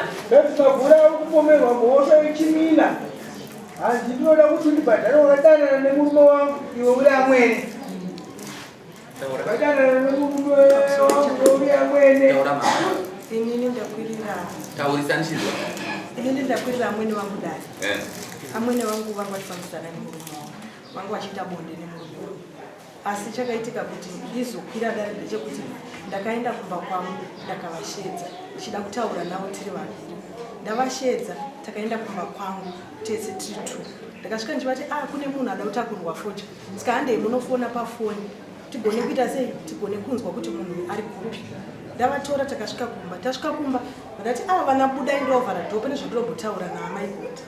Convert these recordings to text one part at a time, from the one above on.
That's Mabura kupomerwa mhosva yechimina. Hanzi ndinoda kuti ndibhadhare wakadanana nemurume wangu iwe uri amwene. Wakadanana nemurume wangu iwe uri amwene. Inini ndakwirira. Taurisa ndichizwa. Inini ndakwirira amwene wangu dai. Eh. Amwene wangu vangu vachifambisana nemurume wangu. Vangu vachiita bonde nemurume wangu. asi chakaitika kuti ndizokwira dare ndechekuti ndakaenda kumba kwangu ndakavashedza ndichida kutaura navo tiri vaviri ndavashedza takaenda kumba kwangu tese tiri two ndakasvika ndichivati a ah, kune munhu ada kutakurwa focha ska handei munofona pafoni tigone kuita sei tigone kunzwa kuti munhu ari kupi ndavatora takasvika kumba tasvika kumba vakati a ah, vana budai ndovhara dhope nezvandirombotaura naamai kuti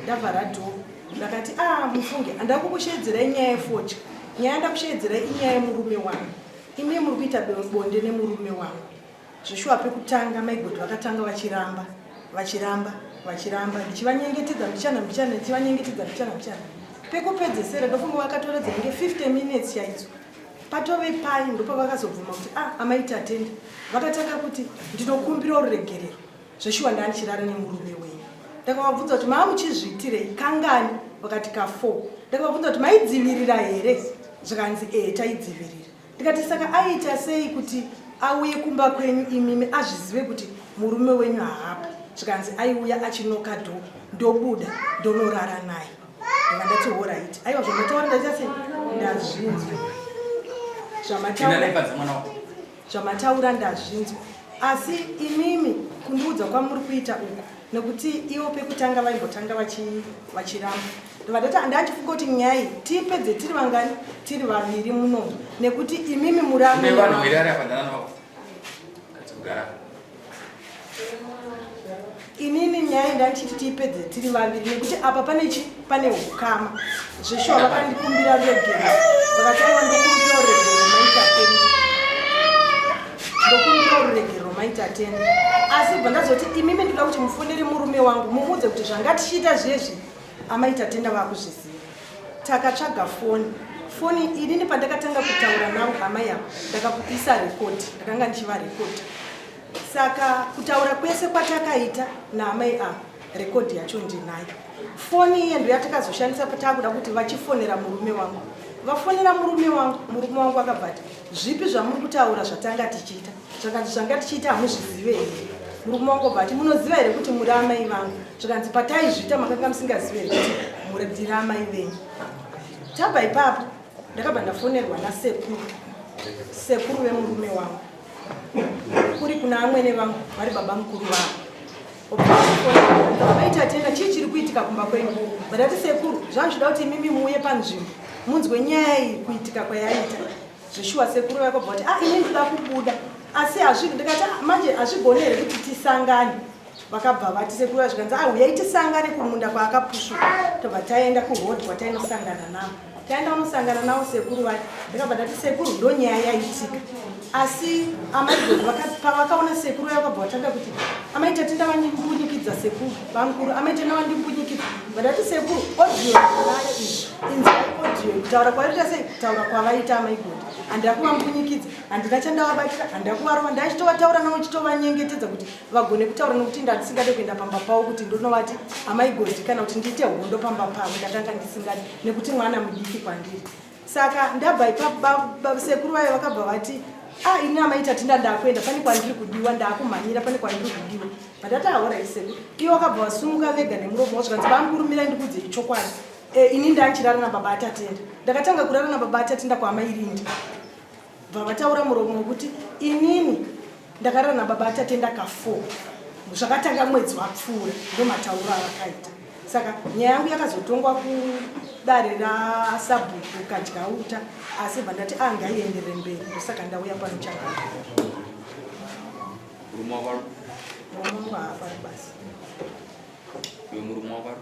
ndavhara dhoo ndakati a ah, mufunge handava kukusheedzerai nyaya yefodya nyaya ndakusheedzerai inyaya yemurume wangu imi muri kuita bonde nemurume wangu zveshuwa pekutanga maigoti vakatanga vachiramba vachiramba vachiramba ndichivanyengetedza mbichana mbichana ndichivanyengetedza mbichana mbichana pekupedzesera ndofunga vakatora dzinenge 50 minutes chaidzo patove pai ndopavakazobvuma kuti a ah, amaitatenda vakatanga kuti ndinokumbira ruregerero Zveshuwa ndanga ndichirara nemurume wenyu. Ndakavabvunza kuti maa muchizviitirei kangani vakati ka 4. Ndakavabvunza kuti maidzivirira here zvikanzi ee taidzivirira. Ndikati saka aiita sei kuti auye kumba kwenyu imimi azvizive kuti murume wenyu haapo zvikanzi aiuya achinoka dho ndobuda ndonorara naye anga ndati horaiti aiwa zvamataura ndaita se ndazvinzwa zvamataura Zvamataura ndazvinzwa asi imimi kundiudza kwamuri kuita uku nekuti ivo pekutanga vaimbotanga vachiramba vadati handachifunga kuti nyaya tipedze tiri vangani tiri vaviri munomu nekuti imimi muraaaa inini nyaya ndaichiti tiipedze tiri vaviri nekuti apa pane chi pane ukama zveshuwa vakandikumbira regero vakataiwa ndokumbira uregero maita teni ndokumbira uregero maita teni asi bva ndazoti imimi ndoda kuti mufonere murume wangu mumuudze kuti zvangatichiita zviye zvi amaita tenda vakuzviziva takatsvaga foni foni inini pandakatanga kutaura navo hama yavo ndakakuisa rekodi ndakanga ndichiva rekodi saka kutaura kwese kwatakaita naamai ava rekodi yacho ndinayo foni iye ndo yatakazoshandisa pataakuda kuti vachifonera murume wangu vafonera murume wangu murume wangu akabvati zvipi zvamuri kutaura zvatanga tichiita zvakanzi zvanga tichiita hamuzvizive here murume wangu obva ati munoziva here kuti muri amai vangu zvakanzi pataizviita makanga musingazive here kuti muri ndiri amai venyu tabva ipapo ndakabva ndafonerwa nasekuru sekuru vemurume wangu kuri kuna amwene vangu vari baba mukuru vangu vaita tena chii chiri kuitika kumba kwenyu vadati sekuru zvanzvida kuti imimi muuye panzvimbo munzwe nyaya iyi kuitika kwayaita zveshuwa sekuru vakobva kuti ah ini ndikuda kubuda asi hazvi ndikati "Ah, manje hazvigone here kuti tisangane vakabva vati sekuru vacho kanzi ah uyai tisangane kumunda kwaakapushuka tobva taenda kuroad kwatainosangana navo taenda unosangana navo sekuru vacho ndikabva ndati sekuru ndo nyaya yaitika asi amai Gogo vaka- pavakaona sekuru vaya vakabva vatanga kuti amai tatenda vandibunyikidza sekuru Bamkuru amete nawa ndimbunyikiti vadati sekuru audio nayo izvi inzai audio kutaura kwaita sei kutaura kwavaita amaigodi handira kuvambunyikidza handina chandavabatira handira kuvarova ndaichitovataura nawo chitovanyengetedza kuti vagone kutaura nokuti ndandisingade kuenda pamba pavo kuti ndonovati amaigodi kana kuti ndiite hondo pamba pavo ndatanga ndisingadi nekuti mwana mudiki kwandiri saka ndabva ipapo sekuru vaye vakabva vati ah ini amai tatinda ndakuenda pane kwandiri kudiwa ndakumhanyira pane kwandiri kudiwa vatati ahora iseko iye wakabva vasumuka vega nemuromo wazvikanzi vamukurumira ndikudze ichokwadi e, ini ndanchirara nababa atatenda ndakatanga kurara nababa atatenda kwaamai rindi bva vataura muromo wekuti inini ndakarara nababa atatenda ka four zvakatanga mwedzi wapfuura ndomatauro avakaita saka nyaya yangu yakazotongwa kudare rasabhuku kadyauta asi bva ndati anga ah, ienderere mberi ndosaka ndauya pano chakaka murume wako ari basi uyo murume wako ari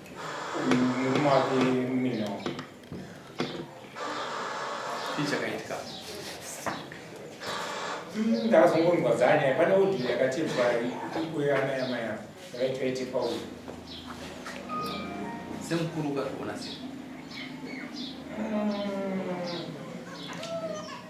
ndakazongonzwa dzanyaya pane audio yakatibva ana yamai ava yakaitwa itepa uyu semukuru ukazviona sei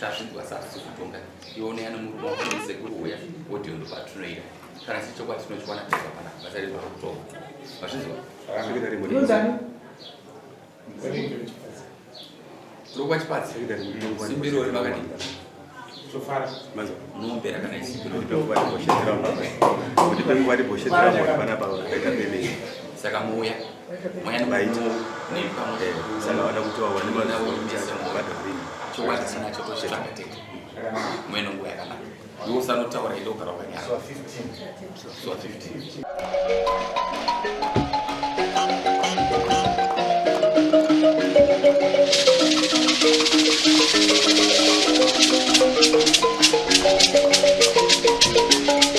tasvidzwa sasi kutonga ione ano murume wako musekuru uya audio ndo patinoita kana chiri chokwadi tinochiwana tega pana basa redu rakutonga mazvinzwa lokwa chipadzi simbiro ri vakadii munombera kana isimbirosaka muuya mweya baita saka vada kuti vawane mazuva kuti achamubata rini chokwadi sina chotozvitsvaga tete mweya nonguva yakanaka iwe usanotaura ide ugara wakanyara zuva 15